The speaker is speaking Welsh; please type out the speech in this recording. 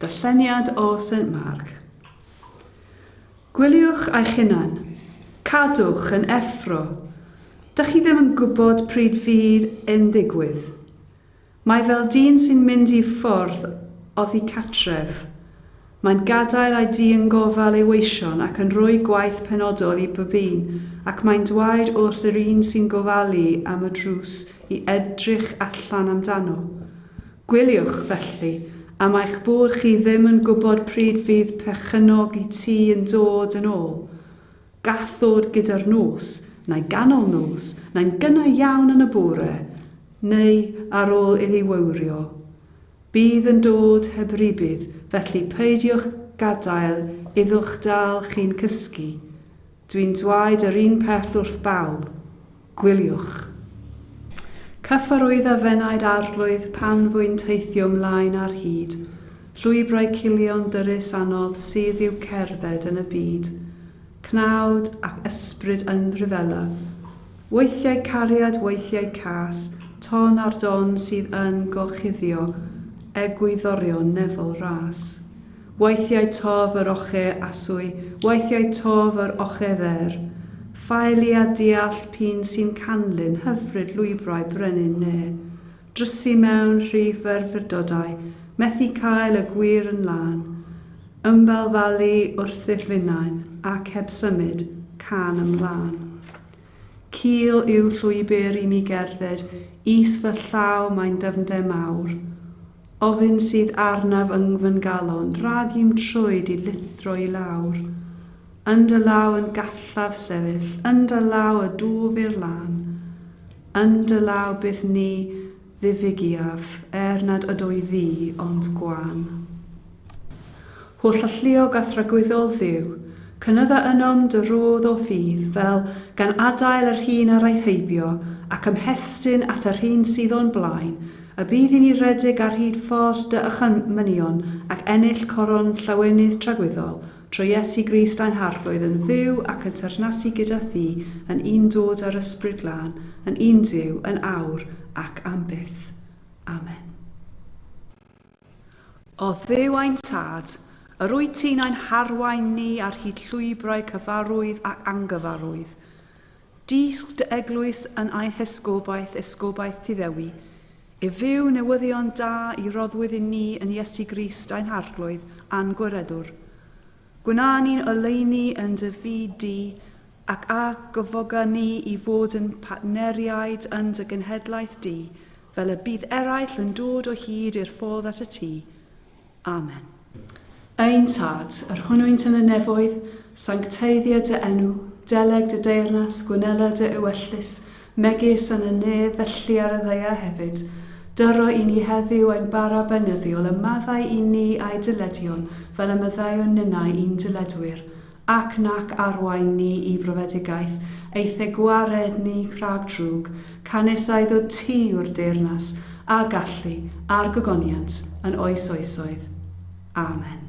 Darlleniad o Saint Mark. Gwyliwch eich hunan. Cadwch yn effro. Dych chi ddim yn gwybod pryd fydd yn ddigwydd. Mae fel dyn sy'n mynd i ffwrdd oddi catref. Mae'n gadael ei dŷ yn gofal ei weision ac yn rhoi gwaith penodol i bob un, ac mae'n dwaed wrth yr un sy'n gofalu am y drws i edrych allan amdano. Gwyliwch, felly, am eich bod chi ddim yn gwybod pryd fydd perchennog y tŷ yn dod yn ôl. Gall ddod gyda'r nos, neu ganol nos, neu'n gynnar iawn yn y bore, neu ar ôl iddi wywrio. Bydd yn dod heb rybudd, felly peidiwch gadael iddo'ch dal chi'n cysgu. Dwi'n dwaed yr un peth wrth bawb. Gwyliwch. Cyfarwydda f'enaid arglwydd pan fu'n teithio 'mlaen ar hyd llwybrau culion dyrys anodd sydd i'w cerdded yn y byd. Cnawd ac ysbryd yn rhyfela. Weithiau cariad weithiau cas, ton ar don sydd yn gorchuddio egwyddorion nefol ras. Weithiau tof yr oche aswy, weithiau tof yr oche fer. Ffaelu a deall p'un sy'n canlyn hyfryd lwybrau brenin ne, drysu mewn rhy ferfyrdodau, methu cael y gwir yn lân. Ymbalfalu wrth ddirfynnau ac heb symud can ymlân. Cul yw llwybr i mi gerdded, is fy llaw mae'n ddyfnder mawr. Ofn sydd arnaf yng fy ngalon, rhag i'm troed i lithro i lawr. Yn dy law yn gallaf sefyll, yn dy law y dwf i'r lan. Yn dy law byth ni Ddiwygiaf, er nad ydw i ddu, ond gwan. Holl alluog a thragwyddol Dduw, cynydda ynom dy rôdd o ffydd, fel gan adael yr hyn a raeth heibio, ac ymhestyn at yr hyn sydd o'n blaen, y bydd i ni redeg ar hyd ffordd dy ychymynion ac ennill coron llawenydd tragwyddol, Trwy Iesu Grist ein Harglwydd yn fyw ac yn teyrnasu gyda Thi, yn un dod â'r Ysbryd Glân, yn un Duw, yn awr ac am byth. Amen. O Dduw ein Tad, yr wyt ti'n ein harwain ni ar hyd llwybrau cyfarwydd ac angyfarwydd. Dysg dy eglwys yn ein hesgobaeth, esgobaeth Tŷ Ddewi, i fyw newyddion da i roddwyd i ni yn Iesu Grist ein Harglwydd a'n Gwiredwr. Gwna ni'n oleuni yn dy fyd di, ac a gyfoga ni i fod yn partneriaid yn dy genhedlaeth di, fel y bydd eraill yn dod o hyd i'r ffordd at y Tŷ. Amen. Ein Tad, yr hwnnwynt yn y nefoedd, sancteiddia dy enw, deleg dy deyrnas, gwnela dy ewyllys, megis yn y nef, felly ar y ddaear hefyd. Dyro i ni heddiw ein bara beunyddiol, a maddau i ni a'i dyledion, fel y maddeuwn ninnau i'n dyledwyr. Ac nac arwain ni i brofedigaeth, eithe gwared ni rhag drwg, canys a iddo ti yw'r deyrnas, a gallu, a'r gogoniant, yn oes oesoedd. Amen.